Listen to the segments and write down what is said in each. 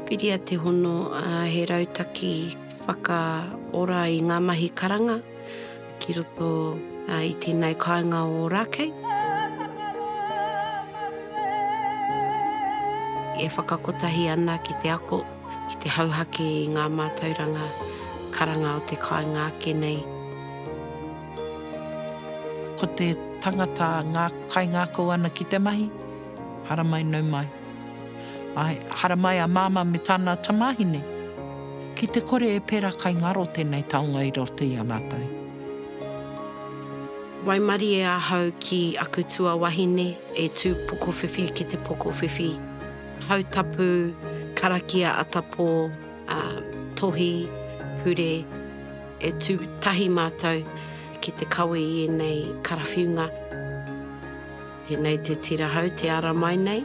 Whiria te hono, ā, he rautaki whakaora i ngā mahi karanga ki roto i tēnei kāinga o Ōrākei. E whakakotahi ana ki te ako, ki te hauhake i ngā mātauranga karanga o te kāinga ake nei. Ko te tangata nga kaingakau ana ki te mahi, haramai nau mai. Ae, haramai a Mama me tana tamahine. Ki te kore e pera kai ngaro tenei taonga i roto i a matou. Waimarie ahau ki aku tuawahine e tu pokowhiwhi ki te pokowhiwhi, hautapu, karakia atapō, tohi, pure. E tū tahi mātou ki te kawe i ēnei karawhiunga. Tēnei te tira hau, te ara mai nei.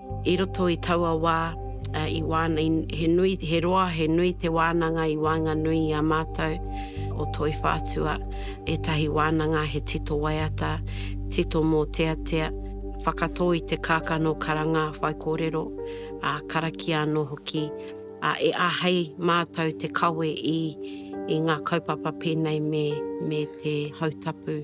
I roto i taua wā, i wāna, i, he nui, he roa, he nui te wānanga i waenganui i a mātou o Toi Whātua, ētahi wānanga he tito waiata, tito mōteatea, whakatō i te kākano karanga whaikōrero, ā, karakia anō hoki, ā, e āhei mātou te kawe i, i ngā kaupapa pēnei me, me te hautapu.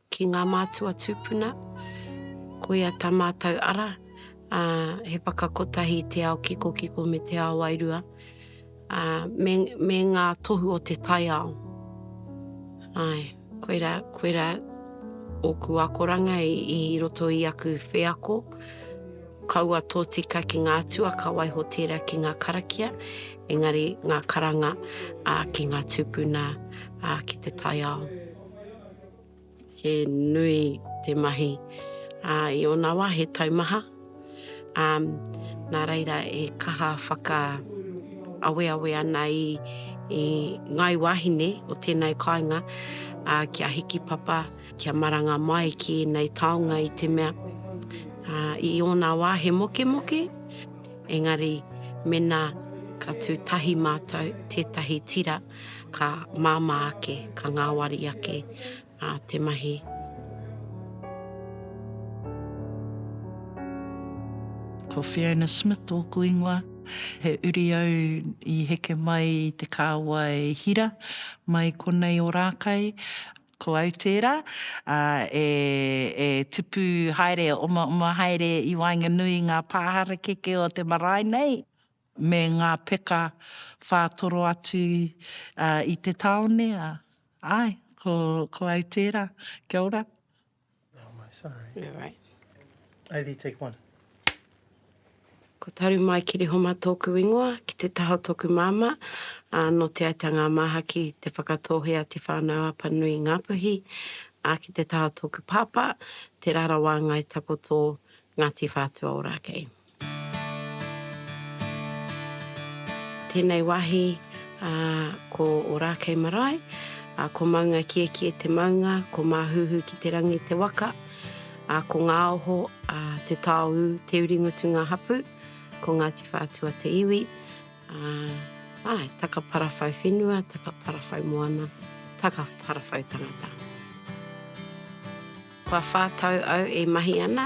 Ki ngā mātua tūpuna, koia tā mātou ara, ā, he whakakotahi te ao kikokiko me te ao wairua, ā, me, me ngā tohu o te taiao. Āe, koirā, koirā ōku akoranga i, i roto i aku wheako, kaua tōtika ki ngā atua, ka waiho tērā ki ngā karakia, engari ngā karanga, ā, ki ngā tūpuna, ā, ki te taiao. He nui te mahi i ōna wā, he taumaha, ā, nā reira e kaha whakaaweawe ana i ngāi wāhine o tēnei kāinga kia hiki papa, kia maranga mai ki ēnei taonga i te mea i ōna wā he mokemoke, engari mēnā ka tū tahi mātou tētahi tira. ka māmā ake, ka ngāwari ake te mahi. Ko Fiona Smith tōku ingoa. He uri au i heke mai i te kāwai e Hira, mai konei o Rākai. Ko au tērā e tupu haere, e omaoma haere i waenganui i ngā pā harakeke o te marae nei. me ngā peka whātoro atu i te tāone, āe, ko au tērā, kia ora. Oh my, sorry. All right. Airī, take one. Ko Tarumai Kirihoma tōku ingoa, ki te taha o tōku māmā, ā, nō Te Aitanga-a-Māhaki, Te Whakatōhea, Te Whānau-a-Panui, Ngāpuhi, ā, ki te taha o tōku pāpā, Te Rarawa, Ngāi Takoto, Ngāti Whātua-ōrākei. Tēnei wāhi ko Ōrākei marae, ko Maungakiekie te maunga, ko Māhuhu-ki-te-rangi te waka, ko Ngāoho te tāū, Te Uringutu ngā hapū, ko Ngāti Whātua te iwi. Āe, takaparawhau whenua, takaparawhau moana, takaparawhau tangata. Kua wha tau au e mahi ana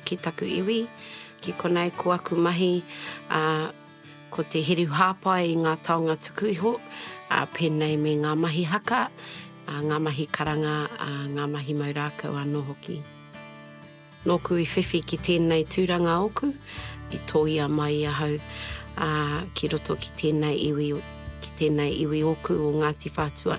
ki taku iwi, ki konei ko aku mahi ko te heru hāpai i ngā taonga tuku iho, pēnei me ngā mahi haka, ngā mahi karanga, ngā mahi mau rākau anō hoki. Nōku i whiwhi ki tēnei tūranga ōku i tōia mai ahau ki roto ki tēnei iwi, ki tēnei iwi ōku o Ngāti Whātua.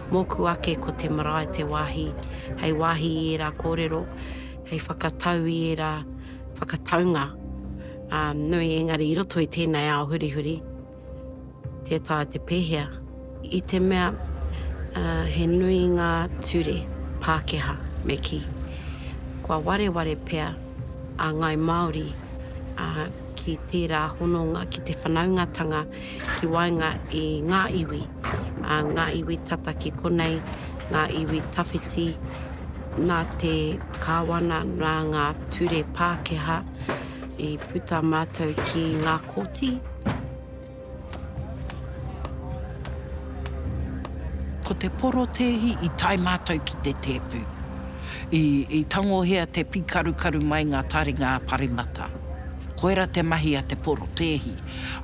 Mōku ake ko te marae te wāhi hei wāhi i ērā kōrero, hei whakatau i ērā whakataunga nui engari i roto i tēnei ao hurihuri tē taea te pēhea i te mea he nui ngā ture Pākehā me kī kua wareware pea a Ngāi Māori ki tērā hononga ki te whanaungatanga. ki waenga i ngā iwi, ngā iwi tata ki konei, ngā iwi tawhiti, nā te kāwana, nā ngā ture Pākehā i puta mātou ki ngā kōti. Ko te porotēhi i tae mātou ki te tēpu, i, i tangohia te pīkarukaru mai ngā taringa a Paremata. Koira te mahi a te porotēhi.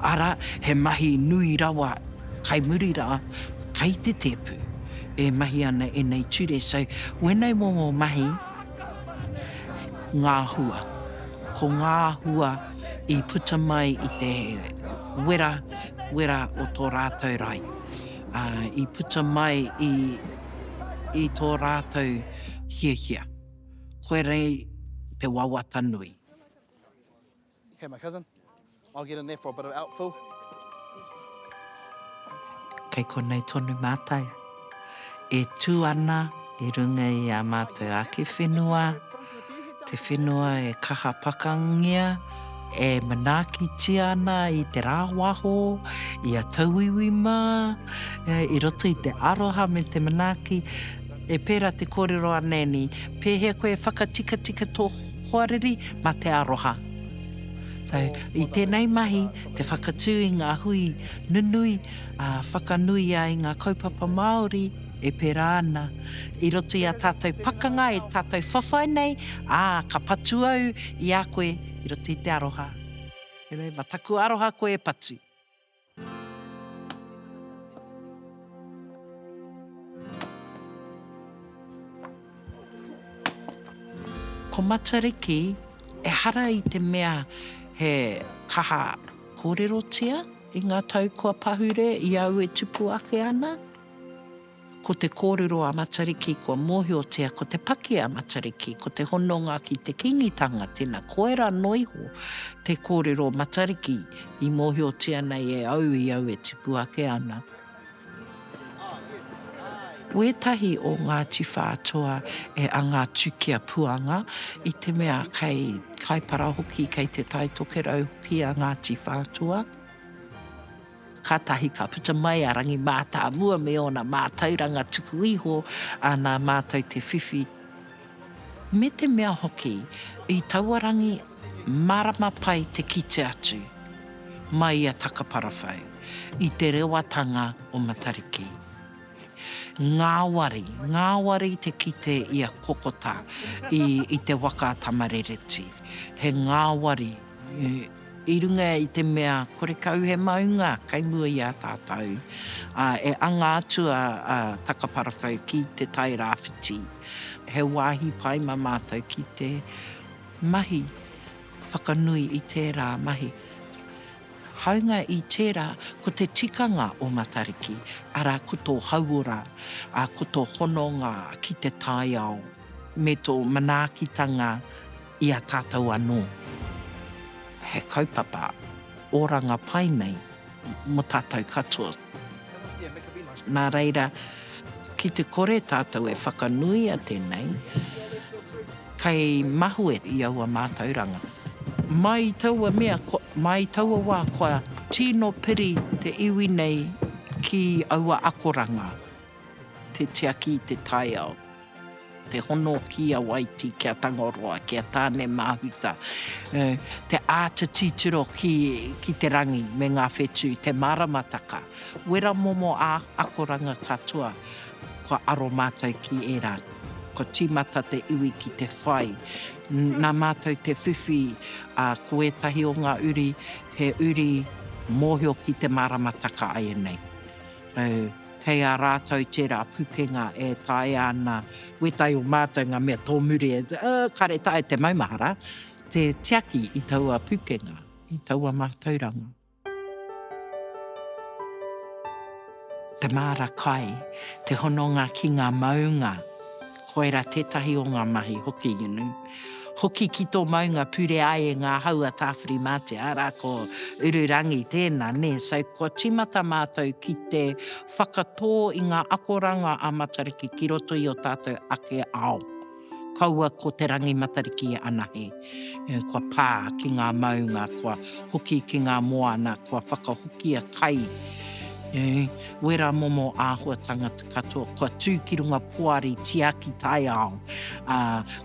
Arā, he mahi nui rawa kai muri rā, kai te tēpu e mahi ana ēnei ture. So, wēnei momo mahi, ngā hua. Ko ngā hua i puta mai i te wera, wera o tō rātou rae. Ā, i puta mai i, i tō rātou hiahia. Koirei te wawata nui. Hey my cousin, I'll get in there for a bit of outfill. Kei konei tonu mātou e tū ana i runga i ā mātou ake whenua, te whenua e kaha pakangia, e manaakitia ana i te rāwaho, i a tauiwi mā, i roto i te aroha me te manaaki, e pērā te kōrero a Nanny, pēhea koe e whakatikatika tō Hoariri ma te aroha. So, i tenei mahi, te whakatu i nga hui nunui, a whakanui ai nga kaupapa Maori e pera ana i roto i a tatou pakanga e tatou whawhai nei, a ka patu au i a koe i roto i te aroha. Heoi, ma taku aroha koe e patu. Ko Matariki, ehara i te mea he kaha kōrerotia i ngā tau kua pahure i au e tupu ake ana. Ko te kōrero a Matariki kua mōhiotia ko te paki a Matariki, ko te hononga ki te Kīngitanga, tena koera noa iho te kōrero o Matariki i mōhiotia nei e au i au e tipu ake ana. Wētahi o Ngāti Whātua e anga atu ki a Puanga, i te mea kei Kaipara hoki, kei Te Tai Tokerau hoki a Ngāti Whātua. Kātahi ka puta mai a Rangi Mātāmua me ōna mātauranga tuku iho, ā, nā Mātou te whiwhi me te mea hoki i taua rangi marama pai te kite atu mai i a Takaparawhau, i te rewatanga o Matariki. Ngāwari, ngāwari te kite i a Kokota i te waka a Tamarereti. He ngāwari i runga i te mea kore kau he maunga kei mua i a tātou, ā, e anga atu a Takaparawhau ki Te Tai Rāwhiti, he wāhi pai mā mātou ki te mahi whakanui i tērā mahi. Hāunga i tērā, ko te tikanga o Matariki, arā, ko tō hauora, ā, ko tō hononga ki te taiao, me tō manaakitanga, i a tātou anō. He kaupapa oranga pai nei mō tātou katoa. Nā reira, ki te kore tātou e whakanuia tēnei, kei mahue i aua mātauranga. Mai i taua mea, mai i taua wā kua tino piri te iwi nei ki aua akoranga, te tiaki i te taiao. Te hono ki a Waiti, ki a Tangaroa, ki a Tāne-māhuta, te āta titiro ki te rangi me ngā whetū, te māramataka. Wera momo akoranga katoa kua aro mātou ki ērā. Kua tīmata te iwi ki te whai. Nā mātou te whiwhi ko ētahi o ngā uri, he uri mōhio ki te māramataka āianei. Kei a rātou tērā pukenga e taea ana wētahi o mātou ngā mea tōmuri, kare taea te maumahara, te tiaki i taua pukenga, i taua mātauranga. Te māra kai, te hononga ki ngā maunga. Koira tetahi o nga mahi hoki you know. Hoki ki to maunga pure ai e nga hau a Tawhirimatea ara ko Ururangi tena ne so kua timata matou ki te whakato i nga akoranga a Matariki ki roto i o tatou ake ao. Kaua ko Te Rangimatariki anahe you know kua pa ki nga maunga kua hoki ki nga moana kua whakahokia kai you know wera momo ahua tangata. katoa kua tū ki runga poari tiaki taiao, ā,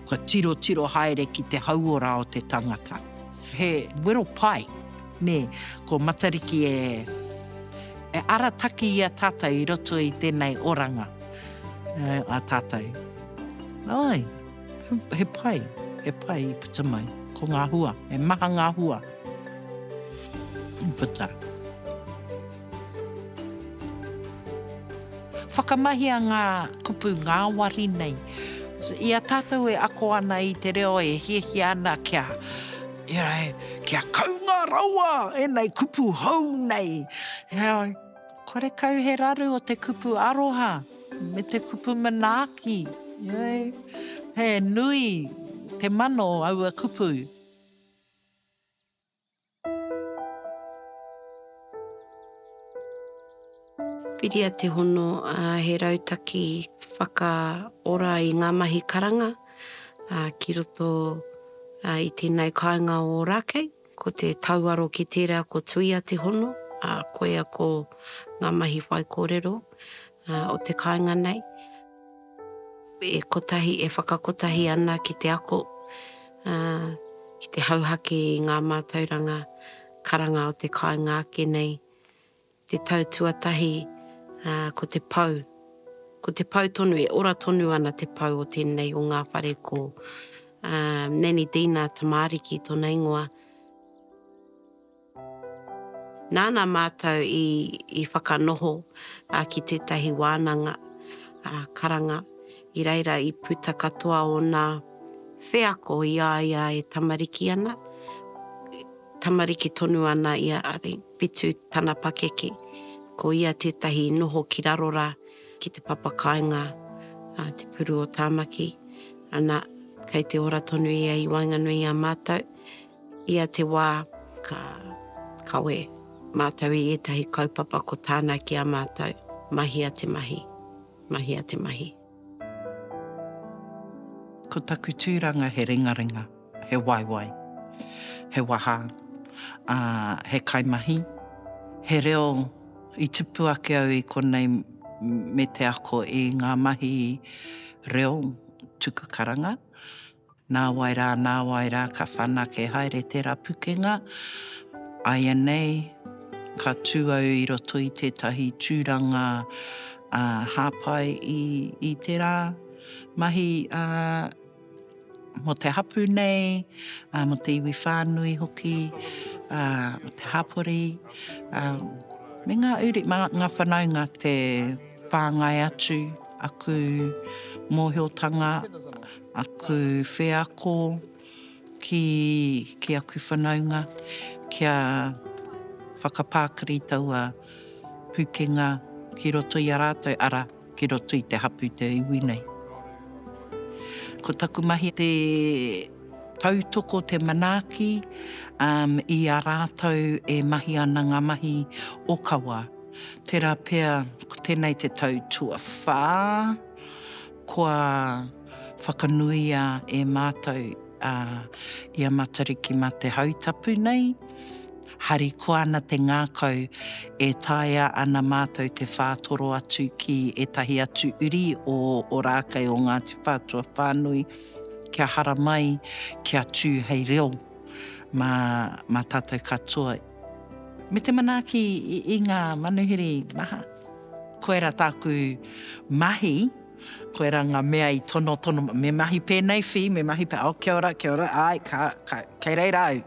kua tirotiro haere ki te hauora o te tangata. He wero pai, nē, ko Matariki e, e arataki i a tātou i roto i tēnei oranga a tātou. Āe, he pai, he pai i puta mai. Ko ngā hua, he maha ngā hua i puta. Whakamahia ngā kupu ngāwari nei. I a tātou e ako ana i te reo e hiahia ana kia, heoi, kia kaunga rawa ēnei kupu hou nei, heoi, karekau he raru o te kupu aroha me te kupu manaaki, heoi, he nui te mano o aua kupu. Whiria te hono, ā, he rautaki whakaora i ngā mahi karanga, ā, ki roto, ā, i tēnei kāinga o Ōrākei. Ko te tauaro ki tērā ko Tuia te hono, ā, koia ko ngā mahi whaikōrero. Ā, o te kāinga nei, e kotahi, e whakakotahi ana ki te ako, ā, ki te hauhake i ngā mātauranga karanga o te kāinga ake nei. Te tau tuatahi, ā, ko te pou. Ko te pou tonu, e ora tonu ana te pou o tēnei o ngā whare ko, ā, Nanny Dina Tamāriki tōna ingoa. Nāna mātou i whakanoho ki tētahi wānanga karanga, i reira i puta katoa ōna wheako i a ia e tamariki ana, tamariki tonu ana ia, I think whitu tana pakeke, ko ia tētahi i noho ki raro rā ki te papa kāinga a Te Puru o Tāmaki, ana, kei te ora tonu ia i waenganui i a mātou. Ia te wā ka kawe mātou i ētahi kaupapa ko tāna ki a mātou, mahia te mahi, mahia te mahi. Ko taku tūranga he ringaringa, he waewae, he waha, ā, he kaimahi, he reo i tupu ake au i konei me te ako i ngā mahi reo tuku karanga. Nāwai rā, nāwai rā, ka whanake haere tērā pukenga, āianei, ka tū au i roto i tētahi tūranga hāpai i tērā mahi mō te hapū nei, mō te iwi whānui hoki, mō te hapori, me ngā uri, ngā whanaunga te whāngai atu aku mōhiotanga. aku wheako ki ki aku whanaunga kia whakapakari taua pukenga ki roto i a ratou ara ki roto i te hapu i te iwi nei. Ko taku mahi te tautoko te manaki i a ratou e mahi ana nga mahi okawa tera pea ko tenei te tau tuawha, Kua whakanuia e mātou i a Matariki mā te hautapu nei. Harikoa ana te ngākau e taea ana mātou te whātoro atu ki ētahi atu uri o Ōrākei o Ngāti Whātua whānui kia haramai, kia tū hei reo mā tātou katoa. Me te manaaki i ngā manuhiri maha. Koirā tāku mahi, koirā ngā mea i tono, tono, me mahi pēnei whī, me mahi pēnei, oh kia ora, kia ora, āe, ka, ka, kei reira au.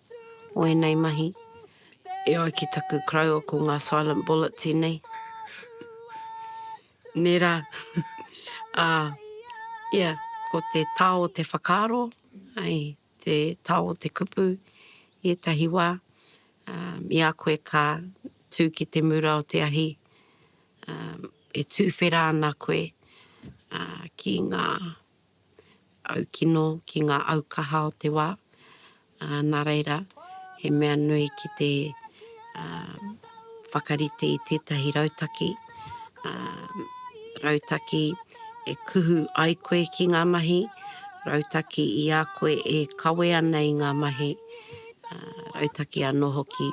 o ēnei mahi. E ai ki taku karaua ko ngā silent bullets ēnei. Nē rā, ā, ia, ko te tao o te whakaaro, ai, te tao o te kupu, i ētahi wā, i a koe ka tū ki te mura o te ahi, e tūwhera ana koe ki ngā. au kino ki ngā aukaha o te wā, ā, nā reira, he mea nui ki te, ā, whakarite i tētahi rautaki, ā, rautaki e kuhu ai koe ki ngā mahi, rautaki i a koe e kawe ana i ngā mahi, ā, rautaki anō hoki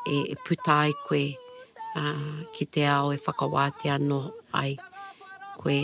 e puta ai koe, ā, ki te ao e whakawātea anō ai koe.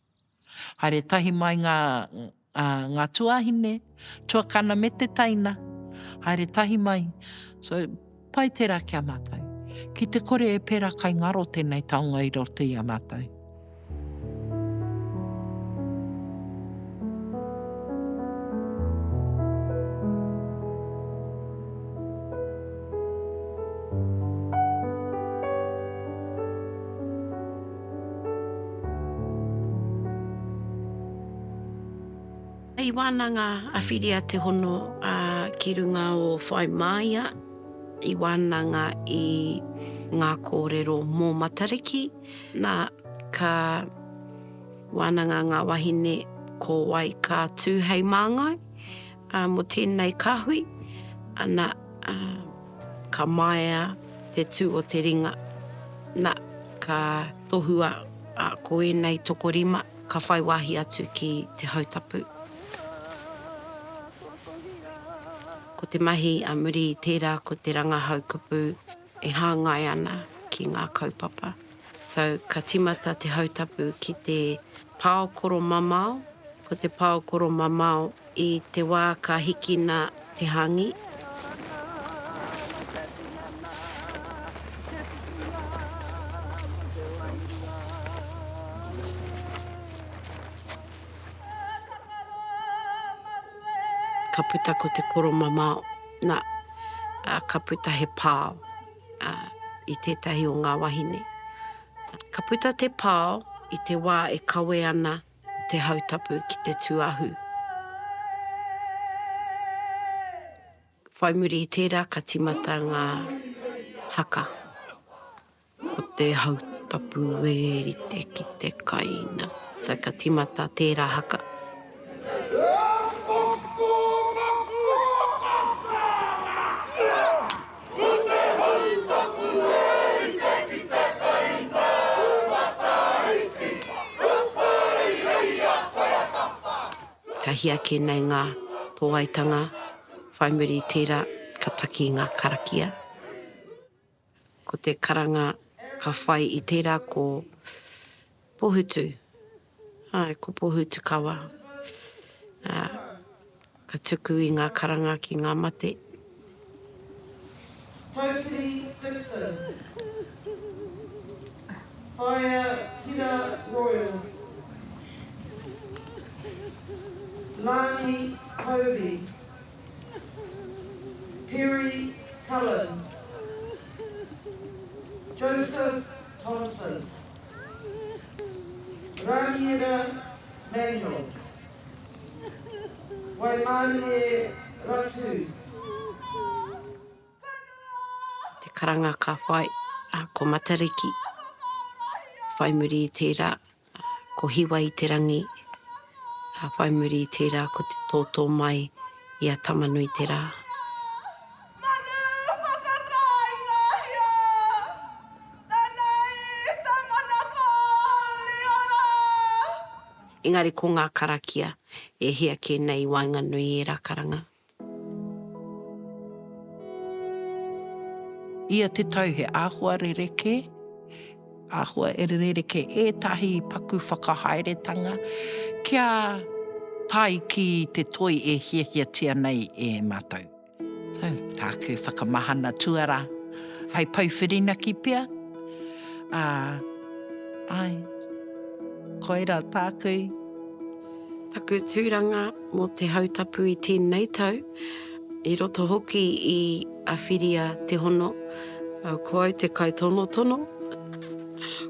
Haere tahi mai ngā, ngā tuāhine, tuakana me te teina, haere tahi mai. So, pai tērā ki a mātou. Ki te kore e pērā kai ngaro tēnei taonga i roto i a mātou. Hei wānanga a Whiria Te Hono a ki runga o Whai Māia i wānanga i ngā kōrero mō Matariki, nā, ka wānanga ngā wāhine ko wai ka tū hei māngai, Ā, mō tēnei kāhui, ana, ā, ka maea te tū o te ringa, na, ka tohua, ā, ko ēnei tokorima ka whai wāhi atu ki te hautapu. Ko te mahi a muri i tērā ko te rangahau kupu. e hāngai ana ki ngā kaupapa. So, ka tīmata te hautapu ki te pao koro mamao, ko te pao koro mamao i te wā ka hikina te hāngi, ka puta ko te koro mamao. Na, a, ka puta he pao, a, i tetahi o nga wahine. Ka puta te pao i te wa e kawe ana te hautapu ki te tu ahu. Whai muri i tera ka timata nga haka. Ko te hautapu e rite ki te kaina. So ka timata tera haka. Ka hia ke nei nga toaitanga whai muri tera ka taki nga karakia. Ko te karanga ka whai i tērā ko Pohutu, āe, ko Pohutukawa, ā, ka tuku i ngā karanga ki ngā mate. Taukiri Dixon, Whaea Hira Royal, Lani Hovey. Perry Cullen, Joseph Thompson, Raniera Manuel, Waimarie Ratu. Te karanga ka whai, ko Matariki, whai muri i tērā. Ko Hiwa-i-te-rangi, ā, whai muri i tērā ko te tōtō mai i a Tama-nui-te-rā. Manu whakakai ngā hia, tanei ta manako uri ora. Engari ko ngā karakia e hia kē nei i waenganui i ērā karanga. Ia te tau he āhua rerekē, āhua e rerekē ētahi paku whakahaeretanga kia tae ki te toi e hiahiatia nei e mātou. Tāku whakamahana tuarā, hai pau whirinaki pea, ā, āe, koirā tāku. Taku tūranga mō te hautapu i tēnei tau, i roto hoki i a Whiria Te Hono, ko au te kaitonotono,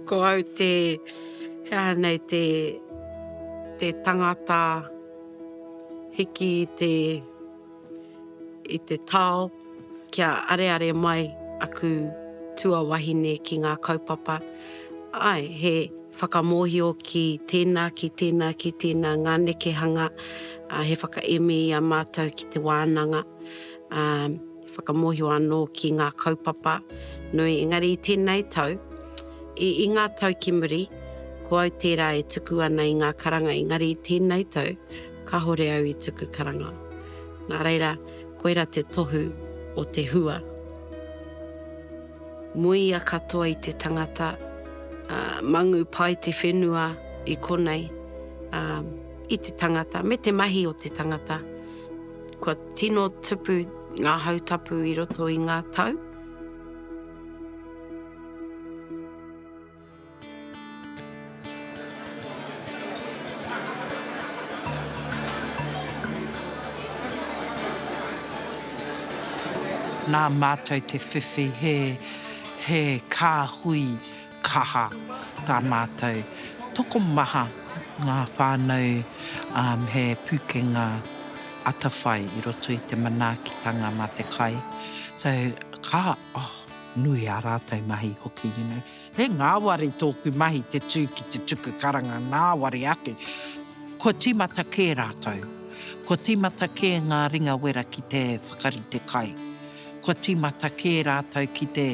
ko au te, he aha nei, te, te tangata hiki i te. i te tao kia areare mai aku tuawahine ki ngā kaupapa, āe, he whakamōhio ki tēnā, ki tēnā, ki tēnā ngā nekehanga, ā, he whakaemi i a mātou ki te wānanga, ā, he whakamōhio anō ki ngā kaupapa nui. Engari i tēnei tau, i, i ngā tau ki muri, ko au tērā e tuku ana i ngā karanga, engari i tēnei tau, Kahore au i tuku karanga. Na reira, koira te tohu o te hua. Muia katoa i te tangata, mangu pai te whenua i konei, i te tangata, me te mahi o te tangata. Kua tino tupu nga hautapu i roto i nga tau. Nā mātou te whiwhi he kāhui kaha tā mātou. Tokomaha ngā whānau he pūkenga atawhai i roto i te manaakitanga mā te kai. So ka, oh, nui ā rātou mahi hoki. He ngāwari tōku mahi te tū ki te tuku karanga ngāwari ake. Kua tīmata kē rātou. Kua tīmata kē ngā ringa wera ki te whakarite kai. Kua tīmata kē rātou ki te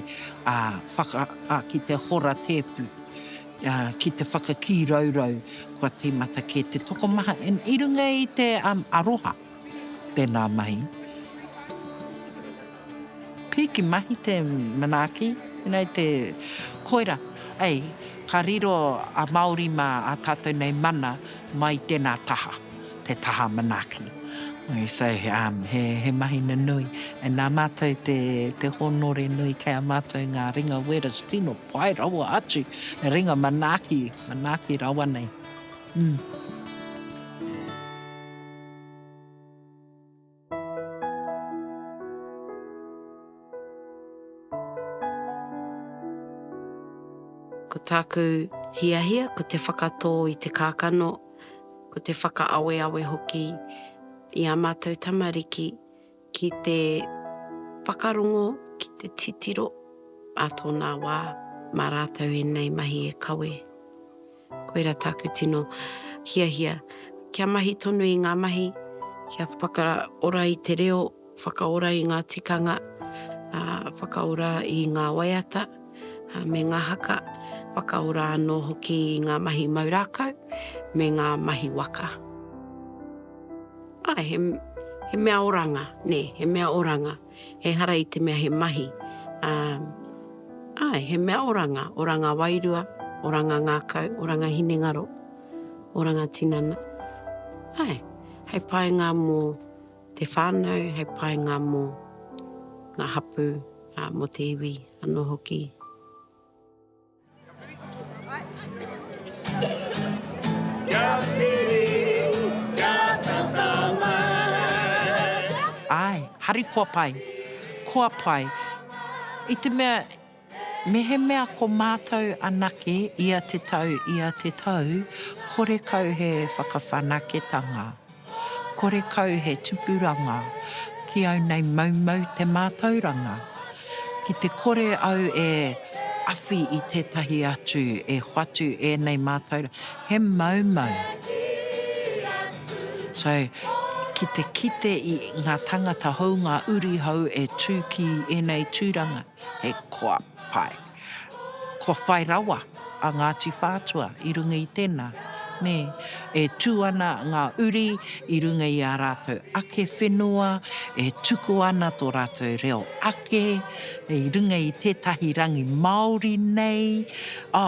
whaka, ki te hora tēpu, ki te whakakīrourou, kua tīmata kē te tokomaha i runga i te aroha. tēnā mahi. Pīki mahi te manaaki, ina i te koera, ei, ka riro a Māori mā ā tātou nei mana mai i tēnā taha, te taha manaaki. So, he mahi nunui. And nā mātou te hōnore nui kei a mātou i ngā ringa wēras tino pai rawa atu, he ringa manaaki, manaaki rawa nei. Ko tāku hiahia ko te whakatō i te kākano, ko te whakaaweawe hoki i ā mātou tamariki Ki te whakarongo, ki te titiro ā tōnā wā mā rātou ēnei mahi e kawe. Koira tāku tino hiahia, kia mahi tonu i ngā mahi, kia whakaora i te reo, whakaora i ngā tikanga, ā, whakaora i ngā waiata me ngā haka, whakaora anō hoki i ngā mahi mau rākau me ngā mahi waka. Āe, he, he mea oranga, nē, he mea oranga, he hara i te mea he mahi, ā, āe, he mea oranga, oranga wairua, oranga ngākau, oranga hinengaro, oranga tinana, āe, hei painga mō te whānau, hei painga mō ngā hapū, ā, mō te iwi anō hoki. Ae, harikoa pai, koa pai, i te mea, mehemea ko mātou anake ia te tau, ia te tau, kore kau he whakawhanaketanga. Kore kau he tupuranga ki au nei maumau te mātauranga. Ki te kore au e awhi i tētahi atu e whatu ēnei mātauranga, he maumau. So, ki te kite i ngā tāngata hou, ngā uri hou e tū ki ēnei tūranga. He koa pai. Koa whai rawa a Ngāti Whātua i runga i tēnā, nē. E tū ana ngā uri i runga i ā rātou ake whenua, e tuku ana tō rātou reo ake i runga i tētahi rangi māori nei, ā.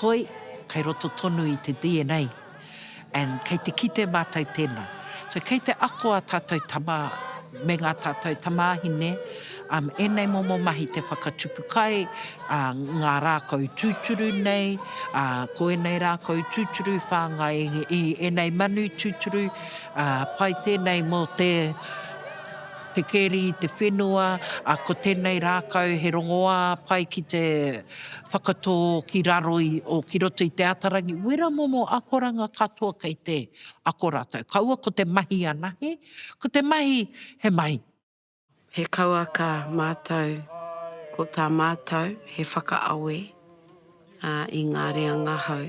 Hoi, kei roto tonu i te dna, and kei te kite mātou tēnā. So kei te ako ā tātou tama me ngā tātou tamāhine, ēnei momo mahi te whakatupu kai, ngā rākau tūturu nei, ko ēnei rākau tūturu i whāngai i ēnei manu tūturu, pai tēnei mō te kēri i te whenua, ko tēnei rākau he rongoā pai ki te. Whakatō ki raro i, o, ki roto i te atarangi, wera momo akoranga katoa kei te ako rātou. Kaua ko te mahi anahe, ko te mahi he mahi. He kauaka mātou, ko tā mātou he whakaawe, ā, i ngā reanga hou.